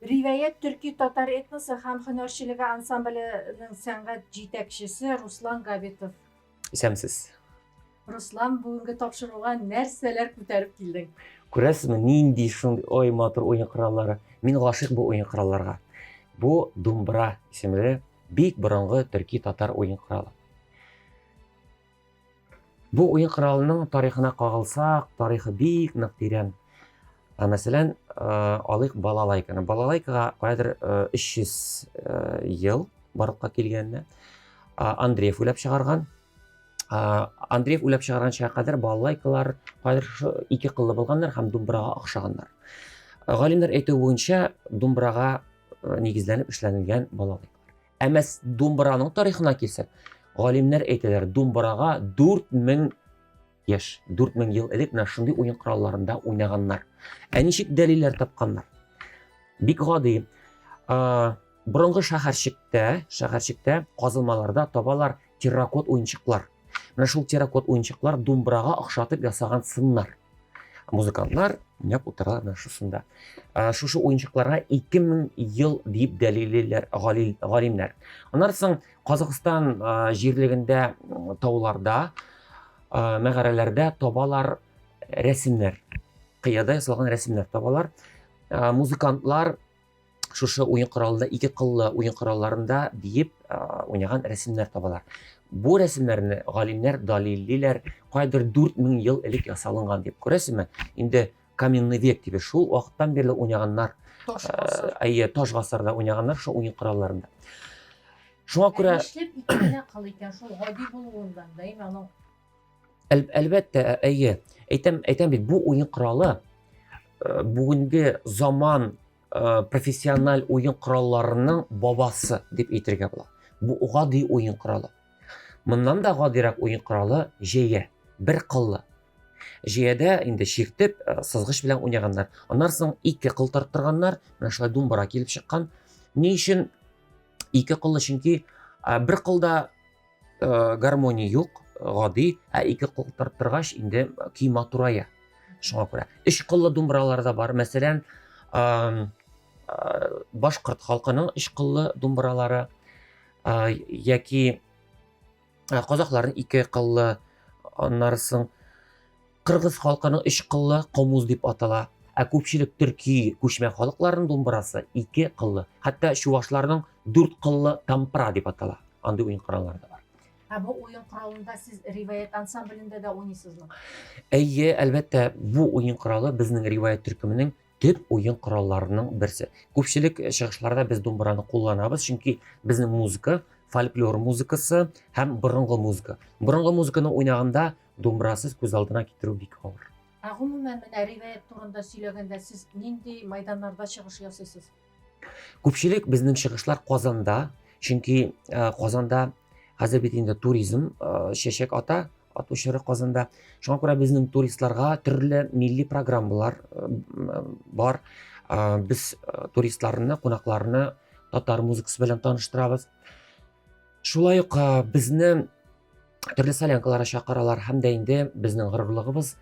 Ривәят төрки-татар этносы һәм һөнәрчелеге ансамбленең сәнгать җитәкчесе Руслан Габитов. Исәнмесез. Руслан, бүгенге тапшыруга нәрсәләр күтәреп килдең? Күрәсезме, нинди шундый ой матур уен кораллары. Мин гашыйк бу уен коралларга. Бу думбра исемле бик борынгы төрки-татар уен коралы. Бу уен коралының тарихына кагылсак, тарихы бик нык тирән. Ә, мәсәлән, алыйк балалайканы. Балалайкага каядыр 300 ел барлыкка килгәнне Андреев уйлап чыгарган. Андреев уйлап чыгарган чакка кадәр балалайкалар кадәр шушы ике кыллы булганнар һәм думбырага охшаганнар. Галимнәр әйтү буенча, думбырага нигезләнеп эшләнелгән балалайкалар. Ә мәс думбыраның тарихына килсәк, галимнәр әйтәләр, думбырага 4000 яшь, 4000 ел элек менә шундый уен коралларында уйнаганнар. Ә ничек дәлилләр тапканнар? Бик гади. Борынгы шәһәрчектә, шәһәрчектә казылмаларда табалар Терракот уенчыклар. Менә шул терракот уенчыклар думбырага охшатып ясаган сыннар. Музыкантлар уйнап утыралар менә шушында. Шушы уенчыкларга 2000 ел дип дәлиллиләр галимнәр. Аннан соң Казакъстан җирлегендә тауларда, мәгарәләрдә табалар рәсемнәр. Кыяда ясалган рәсемнәр табалар. Музыкантлар шушы уен коралында ике кыллы уен коралларында биеп уйнаган рәсемнәр табалар бу рәсемнәрне галимнәр далиллиләр кайдыр 4000 ел элек ясалынган дип күрәсезме инде каменный век дип шул вакыттан бирле уйнаганнар әйе таш гасырда уйнаганнар шул уен коралларында шуңа күрә эшләп икән шул гади булуыннан да аның Әл, әлбәттә, ә, әйе. Әйтәм, әйтәм бит, бу уен коралы э, бүгенге заман э, профессиональ уен коралларының бабасы дип әйтергә була. Бу гади уен коралы. Моннан да гадирәк уен коралы җәя, бер кыллы. Җәядә инде чиртеп, э, сызгыч белән уйнаганнар. Аннан соң ике кыл тарттырганнар, менә шулай думбара килеп чыккан. Ни өчен ике кыллы? Чөнки бер кылда Э, гармония юк гади ә ике кул торгач инде көй матурая шуңа күрә өч кыллы думбыралар да бар мәсәлән башкорт халкының өч кыллы думбыралары яки казакларның ике кыллы аннары соң Кыргыз халкының өч кыллы комуз дип атала. Ә күпчелек төрки күчмә халыкларының думбырасы ике кыллы. Хәтта чувашларның дүрт кыллы тампра дип атала. Андый уен кораллары да бар. Ә бу уен коралында сез риваять ансамблендә дә уйныйсызмы? Әйе, әлбәттә, бу уен коралы безнең риваять төркеменең төп уен коралларының берсе. Күпчелек чыгышларда без думбыраны кулланабыз, чөнки безнең музыка, фольклор музыкасы һәм борынгы музыка. Борынгы музыканы уйнаганда Думбрасыз күз алдына китерү бик авыр. Ә гомумән, менә риваять турында сөйләгәндә, сез нинди майданнарда чыгыш ясыйсыз? Күпчелек безнең чыгышлар Казанда, чөнки э, Казанда хәзер бит инде туризм э, чәчәк ата, ату чоры Казанда. Шуңа күрә безнең туристларга төрле милли программалар э, бар. Без туристларны, кунакларны татар музыкасы белән таныштырабыз. Шулай ук безне төрле солянкаларга чакыралар һәм дә инде безнең горурлыгыбыз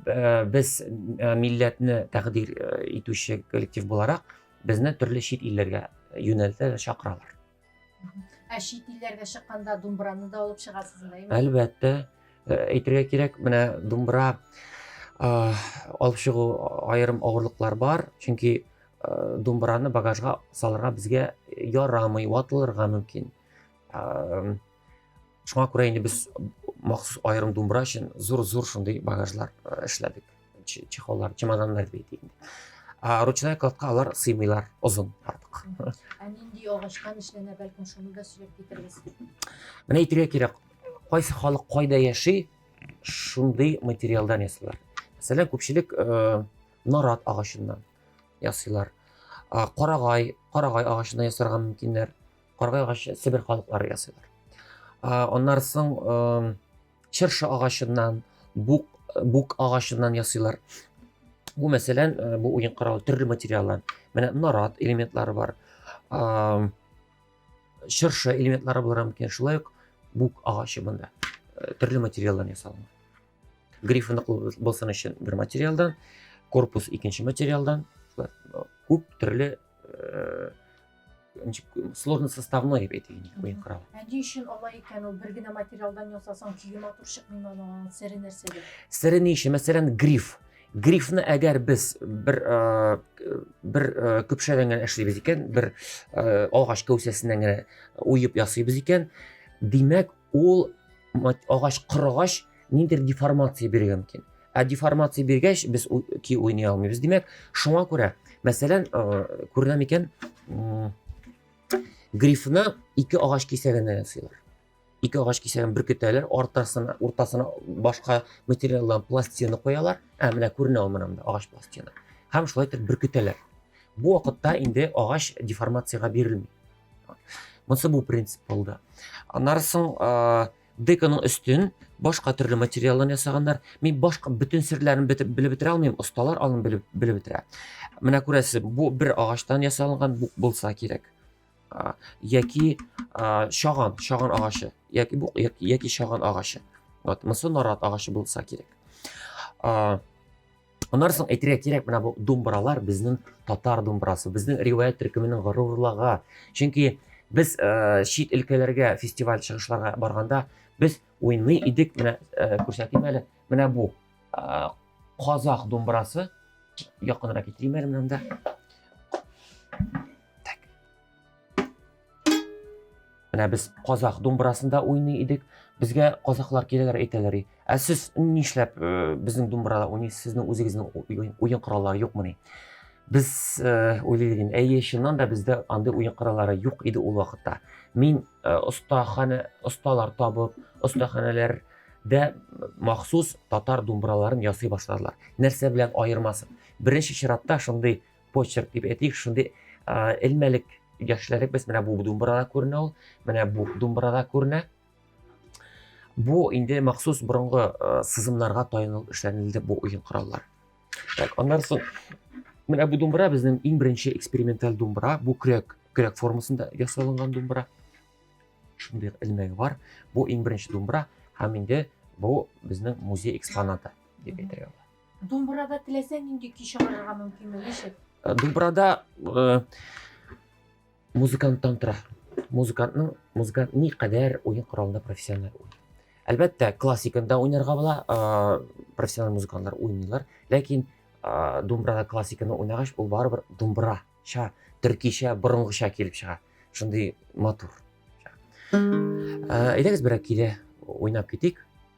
э, без э, милләтне тәкъдир э, итүче коллектив буларак безне төрле чит илләргә юнәлтә чакыралар. Ә чит илләргә чыкканда думбраны да алып чыгасызмы? Әлбәттә, әйтергә кирәк, менә думбра алып чыгу аерым авырлыклар бар, чөнки Э, думбыраны багажга салырга безгә ярамый ватылырга мөмкин э, шуңа күрә инде без махсус аерым думбыра өчен зур зур шундый багажлар э, эшләдек чехоллар чемоданнар дип әйтик ә ручная кладка алар сыймыйлар озын артык ә нинди агачтан эшләнә бәлкем шуны да сөйләп китерегез менә әйтергә кирәк кайсы халык кайда яши шундый материалдан ясыйлар мәсәлән күпчелек нарат агачыннан ясыйлар. Карагай, карагай агачына ясарга мөмкиннәр. Карагай агачы Себер халыклары ясыйлар. Аннары соң чыршы агачыннан, бук бук агачыннан ясыйлар. Бу мәсәлән, бу уен каравы төрле материаллар. Менә нарат элементлары бар. Чыршы элементлары булырга мөмкин. Шулай ук бук агачы монда төрле материаллар ясалган. Гриф ныклы булсын өчен бер материалдан, корпус икенче материалдан, күп төрле э, сложный составной дип әйтик инде уен коралы. Ә ни өчен алай икән ул бер генә материалдан ясасаң көе матур чыкмыймы аның сере нәрсәдә? Сере ни өчен? Мәсәлән, гриф. Грифны әгәр без бер э, бер э, көпшәдән генә эшлибез икән, бер э, агач кәүсәсеннән генә уеп ясыйбыз икән, димәк, Ул агач кырыгач ниндер деформация бирергә мөмкин. Ә деформация биргәч без ки уйный алмыйбыз. Димәк, шуңа күрә, мәсәлән, күренә микән? Грифны ике агач кисәгенә ясыйлар. Ике агач кисәген бөркетәләр, ортасына, уртасына башка материалдан пластина куялар. Ә менә күренә ул монда агач пластина. Һәм шулай итеп бөркетәләр. Бу вакытта инде агач деформациягә бирелми. монысы бу принцип булды аннары соң деканың өстен башка төрле материалдан ясаганнар мин башка бөтен серләрен белеп бетерә алмыйм осталар алын белеп белеп бетерә менә күрәсез бу бер агачтан ясалган бук булса кирәк яки шаган шаган агачы яки бук яки шаган агачы вот мысы нарат агачы булса кирәк Аннан соң әйтергә кирәк, менә бу думбралар безнең татар думбрасы, безнең риваять төркеменең горурлыгы. Чөнки без ә, чит өлкәләргә фестиваль чыгышларга барганда без уйный идек, менә ә, күрсәтим әле, менә бу ә, казах думбрасы. Якынрак китерим әле монда. Так. Менә без казах думбырасында уйный идек. Безгә казахлар киләләр әйтәләр, "Ә сез нишләп э, безнең думбырада уйныйсыз? Сезнең үзегезнең уен кораллары юкмыни?" Без э, уйлыйбыз инде, әйе, чыннан да бездә андый уен кораллары юк иде ул вакытта. Мин э, остахана, осталар табып, остаханалар дә махсус татар думбыраларын ясый башладылар. Нәрсә белән аермасы? Беренче чиратта шундый почерк дип әйтик, шундый элмәлек яшьләрек без менә бу думбырада күренә ул, менә бу думбырада күренә. Бу инде махсус борынгы сызымнарга таянылып эшләнелде бу уен кораллар. Так, аннан соң менә бу думбыра безнең иң беренче эксперименталь думбыра, бу кряк, кряк формасында ясалынган думбыра. Шундый элмәге бар. Бу иң беренче думбыра һәм инде бу безнең музей экспонаты дип әйтергә була. Думбырада теләсә нинди көй чыгарырга мөмкинме? Ничек? Э, Думбырада э, музыканттан тора. Музыкантның музыкант ни кадәр уен коралында профессиональ уйный. Әлбәттә, классикында уйнарга була, э, профессиональ музыкантлар уйныйлар, ләкин э, думбырада классиканы уйнагач, ул барыбер думбырача, төркичә, борынгыча килеп чыга. Шундый матур. Э, Әйдәгез берәр киле уйнап китик.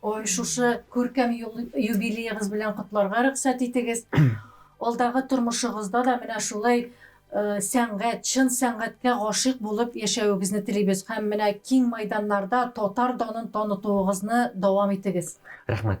Шушы күркәм юбилеегыз белән котларга рөхсәт итегез. Алдагы тормышыгызда да менә шулай сәнгать, чын сәнгатькә гашыйк булып яшәвегезне телибез һәм менә киң майданнарда татар данын танытуыгызны дәвам итегез. Рәхмәт.